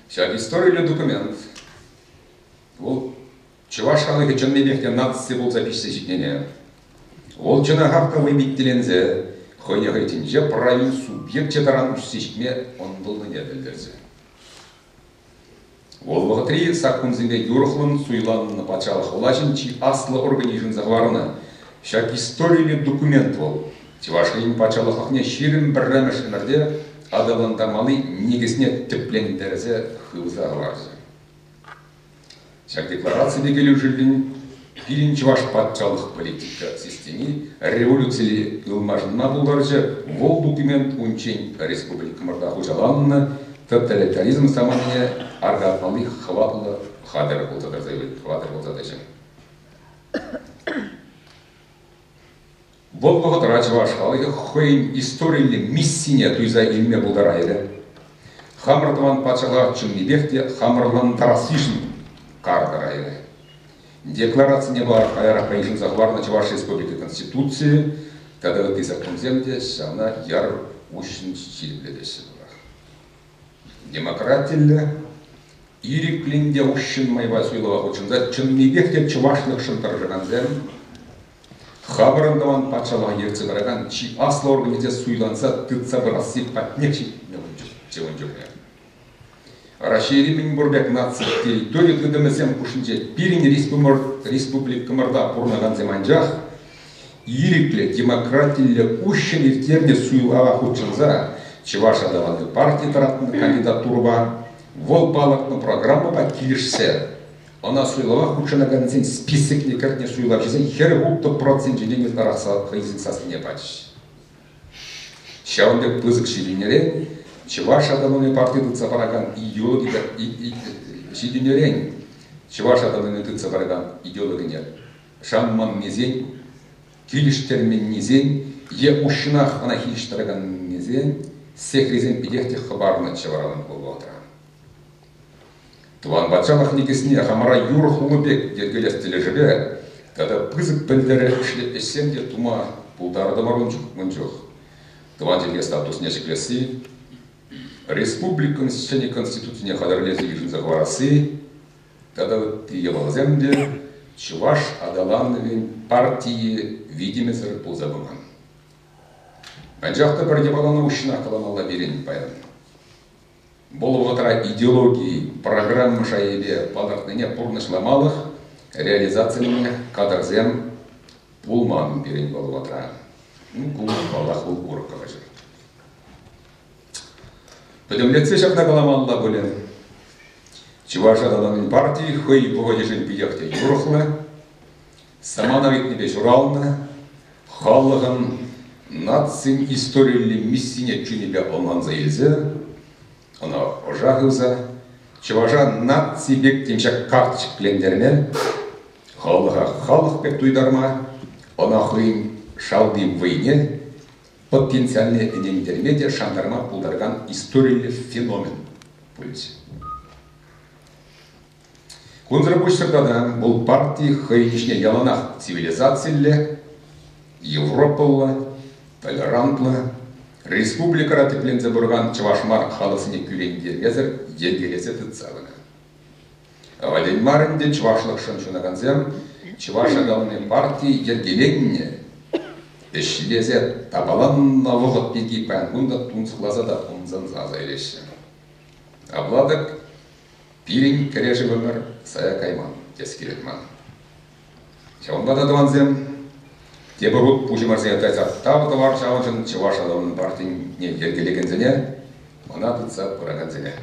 Ҫак историллӗ документ вӑл чӑваш халӑхӗ чӑннипех те наци пулса пиҫсе ҫитнине, вӑл чӑна хапха вӑйпиттеленсе хӑйне хӑйсенче правил субъекчӗ таран уҫсе ҫитме ӑнтӑлнине пӗлтерсе. Вӑл вӑхӑтри саккунсемпе юрӑхлӑн суйланнӑ патшалӑх влаҫӗн чи аслӑ органӗ йышӑнса хӑварнӑ ҫак историллӗ документ вӑл Чӑваш Ен патшалӑхлӑхне ҫирӗм пӗрремӗш ӗмӗрте аталантармалли никӗсне тӗплентерсе хывса хӑварчӗ. Ҫак деклараципе килӗшӳллӗн пирӗн чӑваш патшалӑх политика системи революцире ылмашӑнма пултарчӗ, вӑл документ унччен республикӑмӑрта хуҫаланнӑ тоталитаризм саманине аркатмалли хӑватлӑ хатӗр пулса тӑрса, хватер пулса тӑчӗ. Вӑл вӑхӑтра чӑваш халӑхӗ хӑйӗн историллӗ миссине туйса илме пултарайрӗ. Хамӑр тӑван патшалӑха чӑннипех те хамӑрлантарассишӗн кар тӑрайрӗ. Декларацине вара каярахра йышӑнса хӑварнӑ Чӑваш Республики Конституцийӗ тата ытти законсем те ҫавна яр уҫҫӑн ҫирӗплетеҫҫӗ тӑрах. Демократиллӗ, ирӗклӗн те уҫҫӑн майпа суйлава хутшӑнса чӑннипех те чӑвашлӑхшӑн тӑрӑшакансем Хапӑрӑн тӑван патшалӑха ертсе пыракан чи аслӑ органӗ те суйланса тытса пырасси патнех ҫитме ун чухне. Раҫҫейри мӗн пур пек наци территори тытӑмӗсем хушшинче пирӗн республикӑмӑрта пурӑнакансем анчах ирӗклӗ, демократиллӗ, уҫҫӑн ирттернӗ суйлава хутшӑнса Чӑваш аталану парти тӑратнӑ кандидатурӑпа, вӑл палӑртнӑ программӑпа килӗшсе Ӑна суйлава хутшӑнакансен списокне кӗртнӗ суйлавҫӑсен хӗр-ултӑ проценчӗ ен ытларахса хӑйсен сассине пачӗҫ. Ҫавӑн пек пысӑк ҫитӗнӳрен Чӑваш автономи парти тытса паракан ҫитӗнӳрен Чӑваш автономи тытса паракан идеологине шанманнисен, килӗштерменнисен е уҫҫӑнах ӑна хирӗҫ тӑраканнисен сехрисем питех те хӑпарнӑччӗ вара вӑл вӑхӑтра. Тӑван патшалӑх никӗсне хамӑра юрӑ хулӑ пек йӗркелес тӗлӗшӗпе тата пысӑк пӗлтерӗшлӗ ӗҫсем те тума пултартӑмӑр ун чух. Тӑван чӗлхе статусне ҫӗклесси, республикӑн ҫӗнӗ конституцине хатӗрлесе йышӑнса хӑварасси тата ытти япаласем те чӑваш аталанӑвӗн партийӗ витӗмӗсӗр пулса пыман. Анчах та пӗр япалана уҫҫӑнах каламалла пирӗн паян. вӑл вӑхӑтра идеологи программа шайӗпе палӑртнине пурнӑҫламалӑх реализацилеме кадрсем пулман пирӗн вӑл вӑхӑтра. Ну, ку, паллах, вӑл урӑх калаҫу. Пӗтӗмлетсе ҫакна каламалла пулӗ. Чӑваш аталанӑвӗн партии хӑй вӑхӑчӗшӗн питех те юрӑхлӑ. Саманар иртнипе ҫуралнӑ, халӑхӑн нацин историллӗ миссине чунӗпе ӑнланса илсе, ӑна ӑша хывса, чӑваша наци пек тем ҫак карточкӑлентерме, халӑха халӑх пек туйтарма, ӑна хӑйӗн шалти вӑйне потенциальне ӗнентерме те шантарма пултаракан историллӗ феномен пулӗҫ. Кунсӑр пуҫсӑр тата вӑл парти хӑйӗн ӗҫне яланах цивилизациллӗ, европӑлла, толерантлӑ, республикӑра тӗпленсе пыракан чӑваш мар халӑхсене кӳрентермесӗр йӗркелесе тытса пынӑ. Авален мар ӗнтӗ чӑвашлӑхшӑн ҫунакансем чӑваш аталанни парти йӗркеленнӗ ӗҫлесе тапаланнӑ вӑхӑт пирки паян кун та тунсӑхласа та ӑмсанса аса илеҫҫӗ. Апла-тӑк Пирӗн кӗрешӗвӗмӗр сая кайман, тес килет ман. Ҫавӑнпа та, тӑвансем, тепӗр хут пуҫӑм арсене тайса тав тӑвар ҫавӑншӑн чӑваш аталанӑвӗн партине йӗркелекенсене, ӑна тытса пыракансене.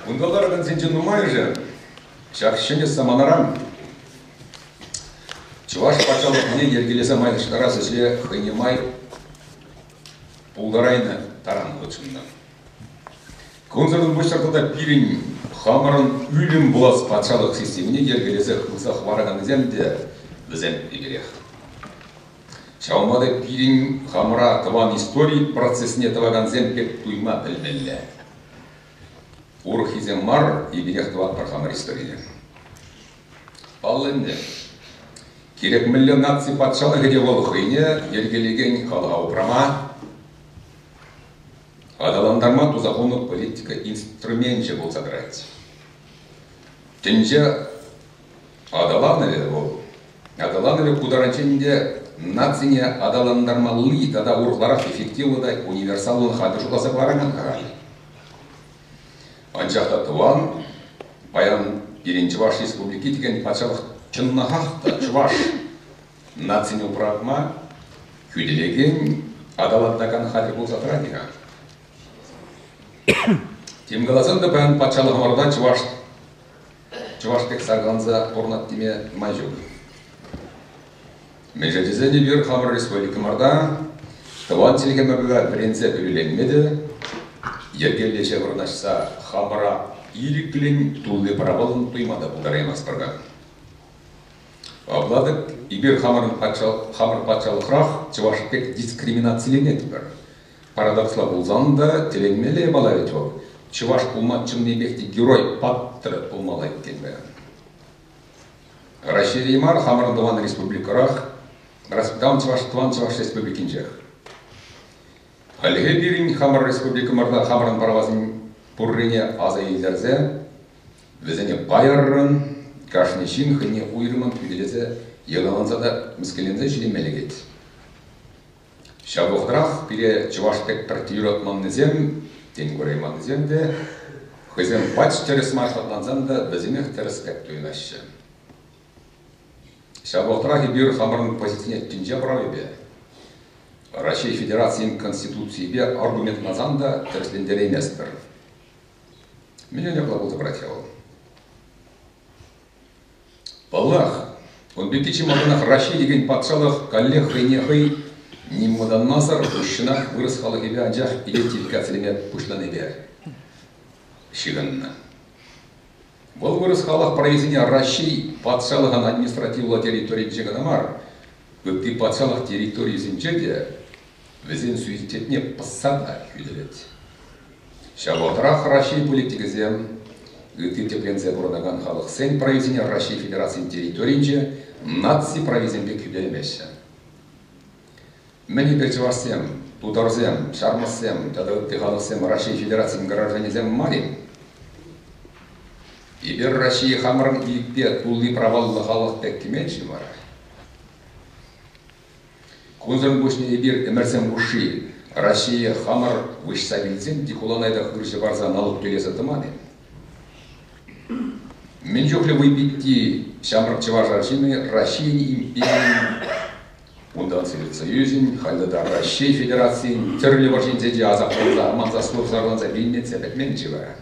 Кунта ларакансенчен нумайӑшӗ ҫак ҫӗнӗ саманаран Чӑваш патшалӑхне йӗркелесе майлаштарас ӗҫе хӑйне май пултарайнӑ таран хутшӑннӑ. Кунсӑртан пуҫтарса та пирӗн хамӑрӑн ӳлӗм пулас патшалӑх системине йӗркелесе хывса хӑвараканнисем те вӗсем икерех. Ҫавӑнпа та пирӗн хамӑра тӑван истори процесне тӑвакансем пек туйма пӗлмелле. Урӑххисем мар, икӗтех тӑватпӑр хамӑр историне. Паллӑ ӗнтӗ, кирек мӗнле наци патшалӑхӗ те вӑл хӑйне йӗркелекен халӑха упрама, аталантарма туса хунӑ политика инструменчӗ пулса тӑрать. Тӗнче Аталанӑвӗ вӑл. Аталанӑвӗ ку таранччен ӗнтӗ нацине аталантармалли тата урӑхларах эффективлӑ та универсаллӑн хатӗр шутласа кӑларайман-ха халь. Анчах та тӑван, паян пирӗн Чӑваш Республики текен патшалӑх чӑннахах та чӑваш нацине упратма хӳтӗлекен, аталантакан хатӗр пулса тӑрать-и-ха? Тем каласан та паян патшалӑхӑмӑрта чӑваш чӑваш пек саркаланса пурӑнать теме май ҫук. Мӗншӗн тесен эпир хамӑр республикӑмӑрта тӑван чӗлхемӗрпе вӗренсе кӳлленме те йӗркеллӗҫе вырнаҫса хамӑра ирӗклӗн тулли правӑллӑн туйма та пултараймастпӑр-ха. Апла эпир хамӑр патшалӑхрах чӑваш пек дискриминациленетпӗр. Парадоксла пулсан та, тӗлӗнмелле япала вӗт вӑл. Чӑваш пулма чӑннипех те герой-паттӑр пулмалла иккен паян. Раҫҫейре мар, хамӑрӑн тӑван республикӑрах, воспитан чӑваш тӑван Чӑваш Республикинчех. Хальлӗхе пирӗн хамӑр республикӑмӑрта хамӑрӑн правасен пуррине аса илтерсе вӗсене пайӑррӑн, кашни ҫын хӑйне уйрӑммӑн хӳтӗлесе, йӑлаланса та, мӗскӗнленсе ҫитӗнме лекет. Ҫав вӑхӑтрах пире чӑваш пек пӗр юратманнисем, тен курайманнисем те, хӑйсем пач тӗрӗс мар шатлансан та вӗсемех тӗрӗс пек туйӑнаҫҫӗ. Ҫав вӑхӑтрах эпир хамӑрӑн позицине тӗнче правипе, Раҫҫей Федерацийӗн Конституцийӗпе аргументласан та тӗрӗслентерейместпӗр. Мӗн ҫапла пулса пырать-ха вӑл? Паллах, ун пирки чи малтанах Раҫҫей текен патшалӑх каллех хӑйне хӑй нимӑнланмасӑр уҫҫӑнах вырӑс халӑхӗпе анчах идентификацилеме пуҫланипе ҫыхӑннӑ. Вӑл вырӑс халӑх прависене Раҫҫей патшалӑхӑн административлӑ территорийӗнче кӑна мар, ытти патшалӑх территорийӗсенче те вӗсен суицидне пӑссан та хӳтӗлет. Ҫав вӑхӑтрах Раҫҫей политикӗсем, ытти тӗпленсе пурӑнакан халӑхсен прависене Раҫҫей Федерацийӗн территорийӗнче наци прависемпе кӳпелмеҫҫӗ. Мӗн эпир чӑвашсем, тутарсем, ҫармӑссем тата ытти халӑхсем Раҫҫей Федерацийӗн гражданӗсем мар-и? Эпир Раҫҫее хамӑрӑн ирӗкпе тулли праваллӑ халӑх пек кӗмен-ши вара? Кунсӑр пуҫне эпир ӗмӗрсем хушши Раҫҫее хамӑр выҫса вилсен те хуланайта хырҫӑ парса налук тӳлесе тӑман-и? Мӗн чухлӗ вӑй питти ҫамрӑк чӑваш арҫынӗ Раҫҫейӗн империйӗн, унтан Совет Союзӗн, халӗ та Раҫҫей Федерацийӗн тӗрлӗ вӑрҫинче те асапланса, аманса, служсӑрланса вилнӗччӗ пӗтмен-ши вара?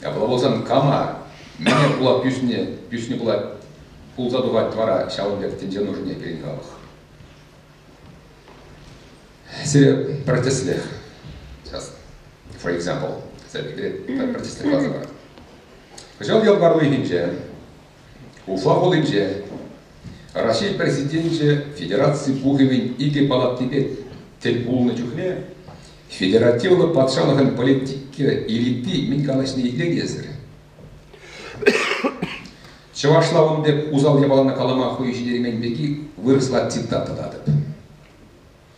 Ҫапла пулсан кама, мӗне пулап ӳсни пулать, пулса тухать вара ҫавӑн пек тӗнче нушине пирӗн халӑх? Сире пӗр тӗслӗх, сейчас, for example, пӗр тӗслӗх каласа парать. Кӑҫал ял пар уйӑхӗнче Уфа хулинче Раҫҫей Президенчӗ Федераци Пухӑвӗн икӗ палатипе тӗл пулнӑ чухне федеративлӑ патшалӑхӑн политики элити мӗн калаҫни итлекесӗр. Чӑвашла ун пек усал япалана калама хӑю ҫитермен пирки вырӑсла цитата татӑп.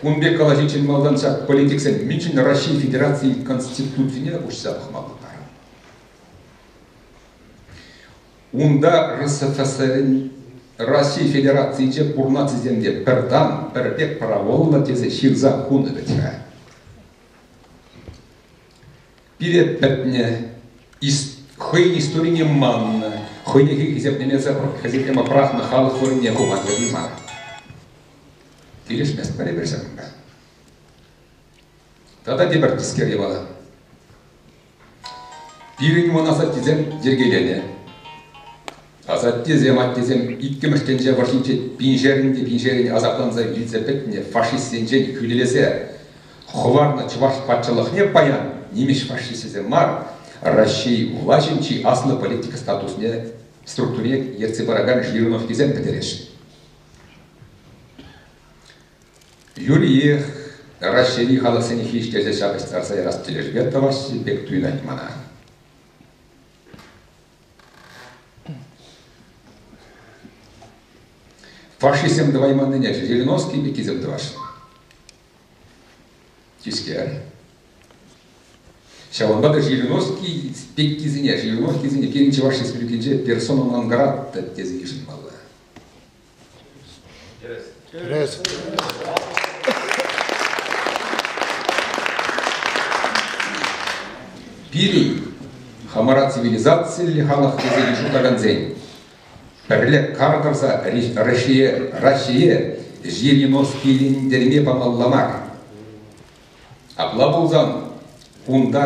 Кун пек калаҫиччен малтан ҫак политиксен мӗншӗн Раҫҫей Федерацийӗн Конституцине уҫса пӑхмалла мар? Унта РСФСРӗн Раҫҫей Федерацийӗнче пур нацисем те пӗр тан, пӗр пек праволлӑ тесе ҫырса хунӑ вӗт-ха. Пире пӗтнӗ, хӑйӗн историне маннӑ, хӑйне хисеплемесӗр хӗсеклеме пӑрахнӑ халӑх вырӑнне хума тытӑнмар. Килӗшмест пӗрре-пӗр ҫакӑнта. Тата тепӗр тискер япала. Пирӗн уман асаттесем йӗркеленӗ. Асаттесем, аттесем иккӗмӗш тӗнче вӑрҫинче пиншерӗн те пиншерӗн асапланса вилсе пӗтнӗ фашистсенчен хӳтӗлесе хӑварнӑ чӑваш патшалӑхне паян нимӗҫ фашисчӗсем мар, Раҫҫей влаҫӗн чи аслӑ политика статусне, структурине ертсе паракан жирновкисем пӗтереҫҫӗ. Юриех Раҫҫейри халӑхсене хирӗҫтерсе ҫапӑҫтарса ярас тӗлӗшпе тӑваҫҫӗ пек туйӑнать мана. Фашистсем тӑвайманнине Жириновский Миккисем тӑвасшӑн. Тискер. Ҫавӑнпа та Жириновский Пеккисене, Жириновскисене пирӗн Чӑваш Республикинче персона нон грата тесе йышӑнмалла. Тӗрӗс. Пирӗн хамӑра цивилизациллӗ халӑх тесе йышӑнтаракансен пӗрле кар тӑрса Россие, Россие жириновскилентерме памалла мар. Апла пулсан унта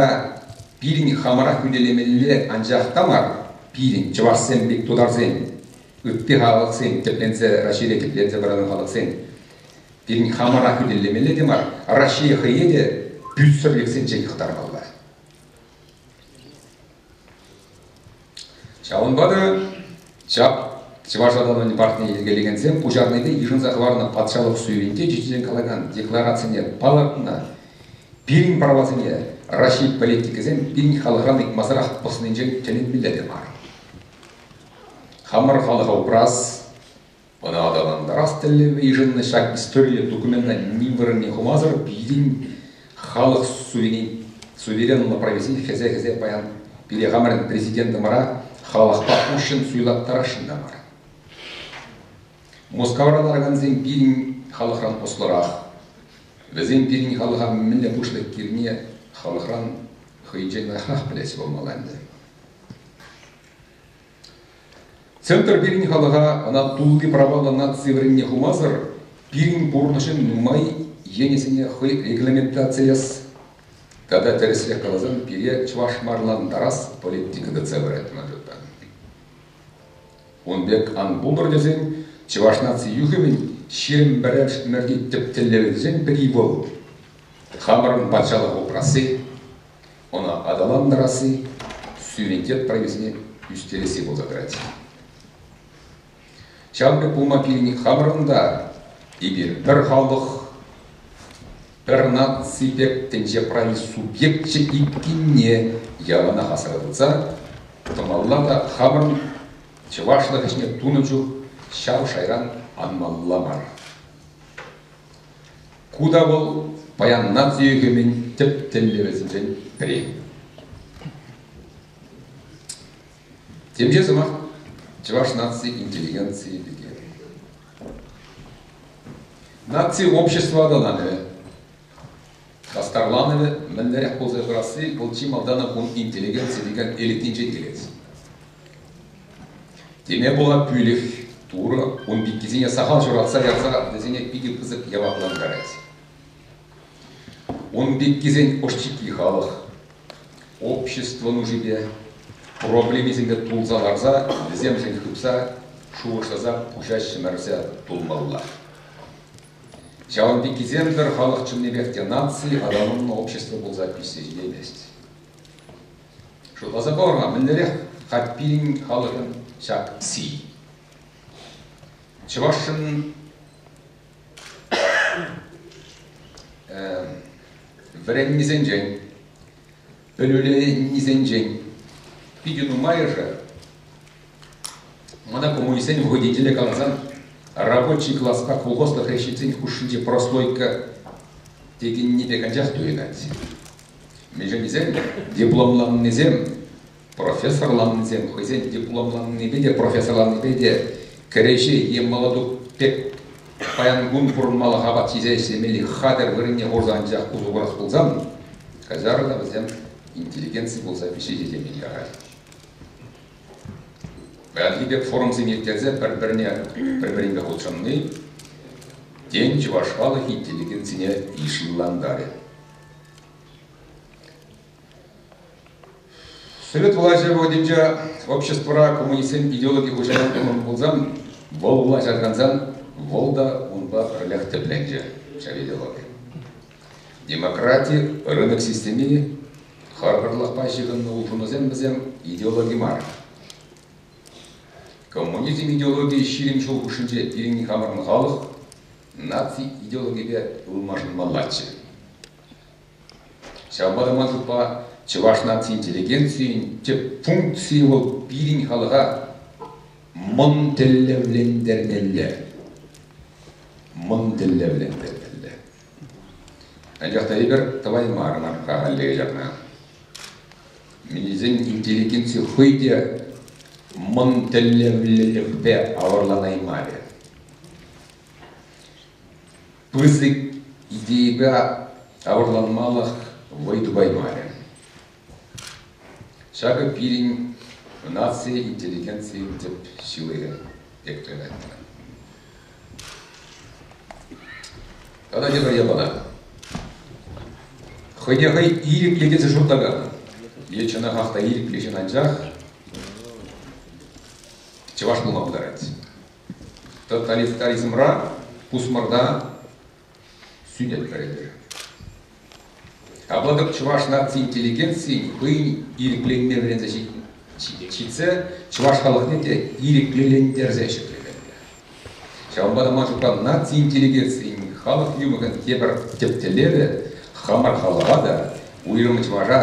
пирӗн хамӑра хӳтӗлемелле анчах та мар, пирӗн чӑвашсем пек тутарсен ытти халӑхсен тӗпленсе Раҫҫейре тӗпленсе вырӑнланӑ халӑхсен пирӗн хамӑра хӳтӗлемелле те мар, Раҫҫее хӑйе те пӳтсӗрлӗхсенчен хӑтармалла. Ҫавӑнпа та ҫак Чӑваш аталанӑвӗн партине йӗркелекенсем пуҫарнипе йышӑнса хӑварнӑ патшалӑх суйӑвӗнче ҫиччӗшен калакан декларацине палӑртнӑ. Пирӗн правасене Раҫҫей политикӗсем пирӗн халӑхран ыйтмасӑрах пӑснинчен тӗлӗнмелле те мар. Хамӑр халӑха упрас, ӑна аталантарас тӗллеве йышӑннӑ ҫак историллӗ документа ни вырӑнне хумасӑр пирӗн халӑх суверенлӑ прависен хӗсе-хӗсе паян пире хамӑрӑн президентӑмӑра халӑхпа уҫҫӑн суйлаттарасшӑн та мар. Мускавра ларакансем пирӗн халӑхран ӑслӑрах. Вӗсем пирӗн халӑха мӗнле пуҫлӑх килне халӑхран хӑйӗнчен лайӑхрах пӗлес пулмалла ӗнтӗ. Центр пирӗн халӑха ӑна тулли праваллӑ наци вырӑнне хумасӑр пирӗн пурнӑҫӑн нумай енӗсене хӑй регламентацилес тата тӗрӗсрех каласан пире чӑвашмарлантарас политика тытса пырать ман шутпа. Ун пек ан пултӑр тесен чӑваш наци юхӑмӗн ҫирӗм пӗрремӗшти тӗп тӗллевӗсен пӗри вӑл хамӑрӑн патшалӑх упрасси, Ӑна аталантарасси студентет прависене ӳстересси пулса тӑрать. Ҫавӑн пек пулма пирӗн хамӑрӑн та эпир пӗр халӑх, пӗр наци пек тӗнче прави субъекчӗ иккенне яланах асра тытса тӑмалла та хамӑрӑн чӑвашлӑх ӗҫне тунӑ чух ҫав шайран анмалла мар. Ку та вӑл паян наци ӳкӗмӗн тӗп тӗллевӗсенчен пӗри. Темиҫе сӑмах чӑваш наци интеллигенцийӗ пирки. Наци общество аталанӑвӗ, хастарланӑвӗ мӗнлерех пулса пырасси вӑл чи малтан кун интеллигенци текен элитнинчен килет. Теме пула пӳлӗх Турӑ ун пеккисене сахал ҫуратса ярса вӗсене питӗ пысӑк яваплантарать. Ун пеккисен ӑшчикки халӑх общество нушипе, проблемисемпе тулса ларса, вӗсемшӗн хыпса, шухӑшласа пуҫаҫҫӗ-мӗрсе тулмалла. Ҫавӑн пеккисем-тӗр халӑх чӑннипех те наци аталаннӑ общество пулса ӳссе ҫитеймест. Шутласа пӑвӑр-ха, мӗнлерех хать пирӗн халӑхӑн ҫак си? Чӑвашшӑн вӗреннисенчен, пӗлӳленнисенчен питӗ нумайӑшӗ мана коммунистсен водителӗ каласан рабочий класспа колхозлӑх решительсен хушшинчи прослойка текенни пек анчах туйӑнать. Мӗншӗнсем дипломланнисем профессорланнисем хӑйсен дипломланнипе те, профессорланнипе те кӗреҫе е молодух пек паян кун пурӑнмалӑх апат ҫисе ӗҫлемелли хатӗр вырӑнне хурса анчах усӑ курас пулсан, каҫар та вӗсем интеллигенци пулса ҫисе ҫемье ярать. Паянхи пек форумсем ирттерсе пӗр-пӗрне пӗр-пӗринпе хутшӑнни тен чӑваш халӑх интеллигенцине йышлантарӗ. Совет влаҫӗ вӑхӑтӗнче обществӑра коммунистсен идеологи хуҫалӑхӗ пулсан, вӑл влаҫа кансан, вӑл та унпа пӗрлех тӗпленчӗ, ҫав идеологи. Демократи, рынок системи, харпӑрлӑхпа ҫыхӑннӑ улшӑнусем вӗсем идеологи мар. Коммунизм идеологийӗ ҫирӗм ҫул хушшинче пирӗн хамӑрӑн халӑх наци идеологипе ылмашӑнмаллаччӗ. Ҫавӑнпа та ман шутпа чӑваш наци интеллигенцийӗн тӗп функцийӗ вӑл пирӗн халӑха мӑн тӗллевлентермелле. Мӑн тӗллевлентермелле. Анчах та эпир тӑваймарӑмӑр халӗ ҫакна. Минӗсен интеллигенци хӑй те мӑн тӗллевлӗхпе авӑрланаймарӗ. пысӑк идейӑпа авӑрланмалӑх вӑй тупаймарӗ. Ҫакӑ пирӗн наци интеллигенцийӗн тӗп ҫылӑхӗ пек туйӑнать мана. Тата тепӗр япала. Хӑйне хӑй ирӗклӗ тесе шутлакан е чӑнахах та ирӗклӗ ҫын анчах чӑваш пулма пултарать. Тоталитаризмра пусмӑрта сӳнет вӗретӗр. Апла-тӑк чӑваш наци интеллигенцийӗн хӑйӗн ирӗкленме вӗренсе ҫитсе чӑваш халӑхне те ирӗклентерсе ҫӗкленнӗ. Ҫавӑнпа та ман шутпа наци интеллигенцийӗн халӑх юрӑмӑн тепӗр тӗп тӗллевӗ хамӑр халӑха та, уйрӑм чӑваша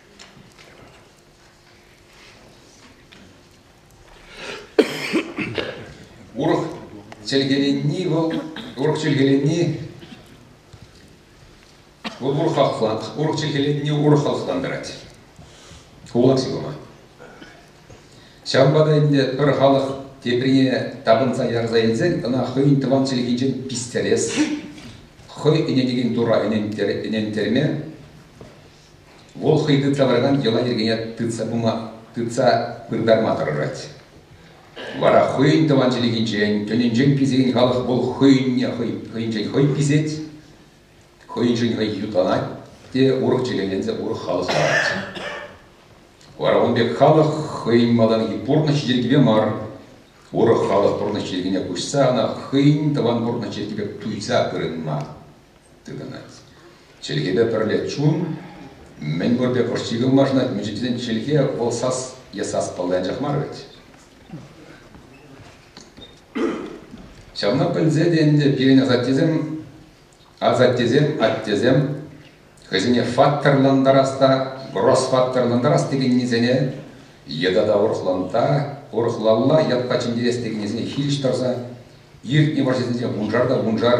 Урӑх чӗлхеленни вӑл, урӑх чӗлхеленни вӑл урӑх халӑхлан, урӑх чӗлхеленни урӑх халӑхлан тӑрать. Кулак сивӑма. Ҫавӑнпа та ӗнтӗ пӗр халӑх теприне тапӑнса ярса илсен ӑна хӑйӗн тӑван чӗлхинчен пистерес, хӑй ӗненекен тура ӗнентерме Вӑл хӑй тытса тӑракан йӑла-йӗркене тытса пыма тытса пыртарма тӑрӑшать. Вара хӑйӗн тӑван чӗлхинчен, тӗнӗнчен писекен халӑх вӑл хӑйӗнне хӑй, хӑйӗнчен хӑй писет, хӑйӗншӗн хӑй ютланать те урӑх чӗлхеленсе урӑх халӑх ларать. Вара ун пек халӑх хӑйӗн малтанхи пурнӑҫ йӗркипе мар, урӑх халӑх пурнӑҫ йӗркине куҫса ӑна хӑйӗн тӑван пурнӑҫ йӗркипе туйса пырӑнма тытӑнать. Чӗлхепе пӗрле чун мӗн пур пек ӑш чикӗ улмашӑнать. Мӗншӗн тесен чӗлхе вӑл сас е саспалли анчах мар вӗт. Ҫавна пӗлсе те ӗнтӗ пирӗн асаттесем, асаттесем, аттесем хӑйсене факторлантарас та, гросс-факторлантарас текеннисене йытӑ та урӑхланта, урӑхлалла ятпа чӗнтерес текеннисене хирӗҫ тӑрса, иртнӗ вӑрҫӑсенче вуншар та вуншар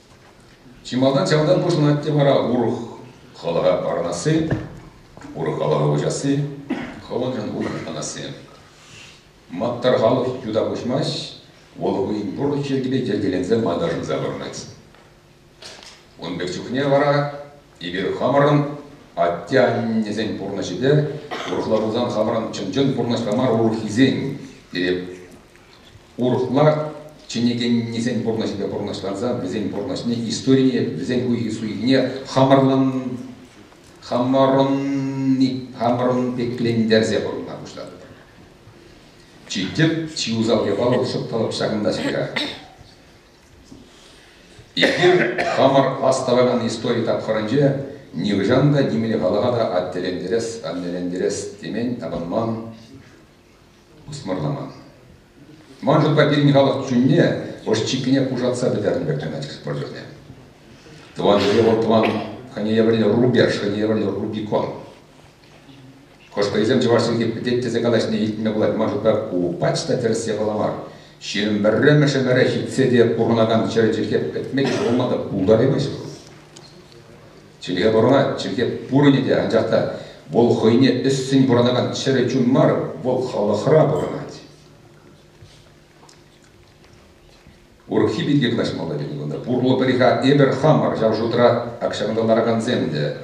Чи малтан ҫавӑнтан пуҫланать те вара урӑх хӑлаха парӑнасси, урӑх хӑлаха уҫасси, хӑлӑхӑн улшӑнасси. Маттӑр халӑх юта куҫмасть, вӑл хӑйӗн пурлӑх йӗркипе йӗркеленсе малта шӑнса пӑрӑнать. Ун пек чухне вара эпир хамӑрӑн атте-аннесен пурнӑҫӗпе, урӑхла пулсан хамӑрӑн чӑн-чӑн пурнӑҫпа мар урӑххисен, пире урӑхла чӗнекеннисен пурнӑҫӗпе пурнӑҫланса вӗсен пурнӑҫне, историне, вӗсен хуйхи-суйхине хамӑрлан хамӑрӑнни хамӑрӑн пеклентерсе пурӑнма пуҫлатӑпӑр. Чи тӗп, чи усал япала шӑпталӑп ҫакӑнта-ҫаках. Эпир хамӑр астӑвакан истори тапхӑрӗнче нихӑҫан та нимле халӑха та аттелентерес, аннелентерес темен, тапӑнман, пусмӑрламан. Ман шутпа пирӗн халӑх чунне ӑш-чиккине пушатса пӗтернӗ пек туйӑнать спорт чухне. Тӑван чӗре вӑл тӑван хӑйне евӗрлӗ рубеж, хӑйне евӗрлӗ рубикон. Хӑшпӗрисем чӑваш чӗлхи пӗтет тесе калаҫнине илтме пулать. Ман шутпа ку пач та тӗрӗс япала мар. Ҫирӗм пӗрремӗш ӗмӗре ҫитсе те пурӑнакан чӗре чӗлхе пӗтме те пулман та пултараймаҫҫӗ вӑл. Чӗлхе пӑрӑна чӗлхе пурӑнӗ те, анчах та вӑл хӑйне ӗссӗн пурӑнакан чӗрӗ чун мар, вӑл халӑхра пурӑнать. Урӑххи пирки калаҫмалла пуль кунта. Пурлӑ пӗр-ха эпӗр хамӑр, ҫав шутра акҫанкӑна ларакансем те.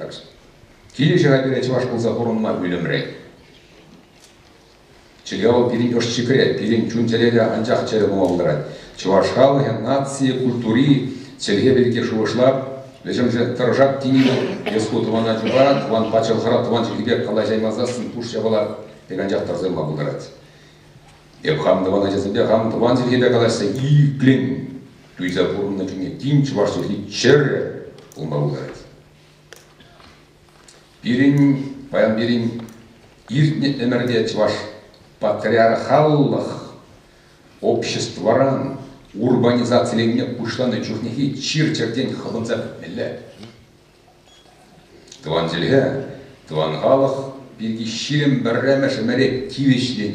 Килӗшӗ-ха пире чӑваш пулса пурӑнма ӳлӗмре. Чӗре вӑл пирӗн ӑшчикре, пирӗн чун-чӗрере анчах чӗрӗ пулма пултарать. Чӑваш халӑхӗ наци, культури, чӗлхе пирки шухӑшлап, вӗҫӗмшӗн тӑрӑшак тени вӑл эс ку тӑвана чупа, тӑван патшалӑхра тӑван чӗлхепе калаҫа аймасассӑн пуш япала пек анчах тӑрсӑнма пултарать. Эп хам тӑван ачасемпе хам тӑван чӗлхепе калаҫса иккӗн туйса пурӑннӑ чухне тин чӑваш чӗлхи чӗрӗ пулма пултарать. Пирӗн, паян пирӗн иртнӗ ӗмӗрте Чӑваш патриархаллӑх обществӑран урбанизациленме пуҫланӑ чухнехи чир-чӗртен хӑпӑнса пӗтмелле. Тӑван чӗлхе, тӑван халӑх пирки ҫирӗм пӗрремӗш ӗмӗре тивӗҫлӗн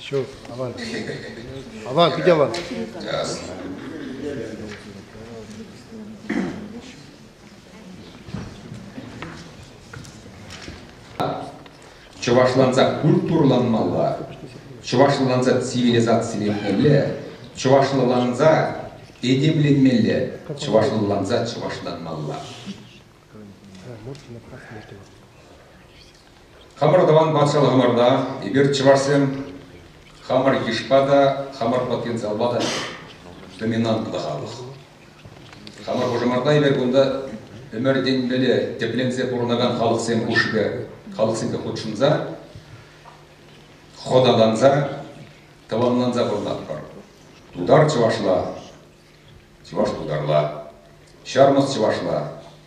Ҫук, аван. Аван, питӗ аван. Чӑвашланса культурланмалла, чӑвашланса цивилизациленмелле, чӑвашланса этемленмелле, чӑвашланса чӑвашланмалла. Хамӑр тӑван патшалӑхӑмӑрта эпир чӑвашсем хамӑр йышпа та, хамӑр потенциалпа та доминантлӑ халӑх. Хамӑр хушӑмӑрта эпир кунта ӗмӗртенмелле тӗпленсе пурӑнакан халӑхсем хушшипе халӑхсемпе хутшӑнса, хӑталанса, тӑванланса пурӑнатпӑр. Тутар чӑвашла, Чӑваш тутарла, ҫармӑс чӑвашла,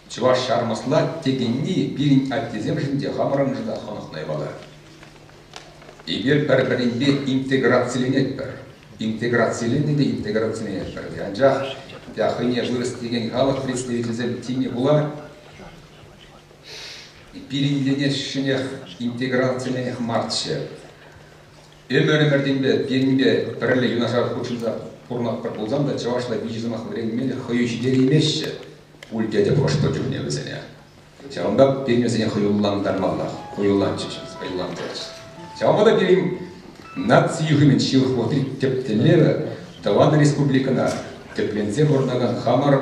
чӑваш ҫармӑсла текенни пирӗн аттесемшӗн те, хамӑрӑншӑн та хӑнӑхнӑ япала. Эпир пӗр-пӗринпе интеграциленетпӗр. Интеграциленнӗ те интеграциленетпӗр. Анчах те хӑйне вырӑс текен халӑх представителӗсем тивме пула пирӗнленес ҫӗнех интеграциленех марччӗ. Ӗмӗр-ӗмӗртенпе пирӗнпе пӗрле юнашар хутшӑнса пурӑнатпӑр пулсан та чӑвашла виҫӗ сӑмах вӗренме хӑю ҫитереймеҫҫӗ пуль тетӗп ӑш-тӑн чухне вӗсене. Ҫавӑнпа пирӗн вӗсене хӑюллантармаллах, хӑюлланчӗҫ, хӑюллантарчӗҫ. Ҫавӑнпа та пирӗн наци юхӑмӗн ҫывӑх вӑхӑтри тӗп тӗллевӗ тӑван республикӑна тӗпленсе пурӑнакан хамӑр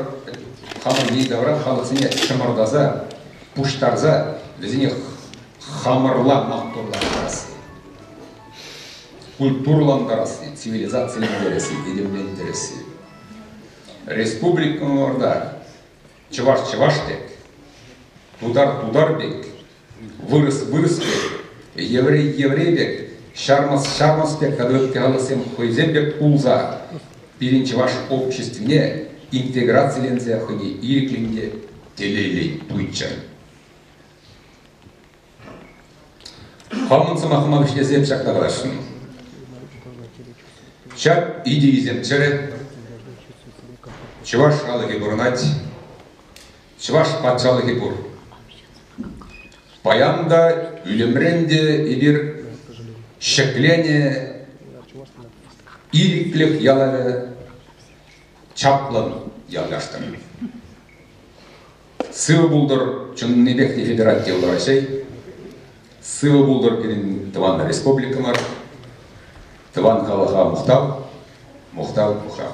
хамӑр йӗри-тавра халӑхсене чӑмӑртаса, пуҫтарса вӗсене хамӑрла маттурлантарасси, культурӑлантарасси, цивилизацилентересси, этемлентересси. Республикӑмӑрта чӑваш чӑваш пек, тутар тутар пек, вырӑс вырӑс пек, еврей еврей пек, ҫармас ҫармас пек тата ытти халӑхсем хӑйсем пек пулса пирӗн чӑваш обществине интеграциленсе хӑйне ирӗклӗн те телейлӗн туйччӑр. Хамӑн сӑмахӑма вӗҫлесе ҫакна каласшӑн. Ҫак идейӑсен чӗрӗ чӑваш халӑхӗ пурӑнать, чӑваш патшалӑхӗ пур. Паян та, ӳлӗмрен те эпир ҫӗклене, ирӗклӗх ялавӗ чаплӑн явлаштӑр. Сывӑ пултӑр чӑннипех те федераль йӑлтӑр Раҫҫей. Сывӑ пултӑр пирӗн тӑван республикӑмӑр, тӑван халӑха мухтав, мухтав, мухтав.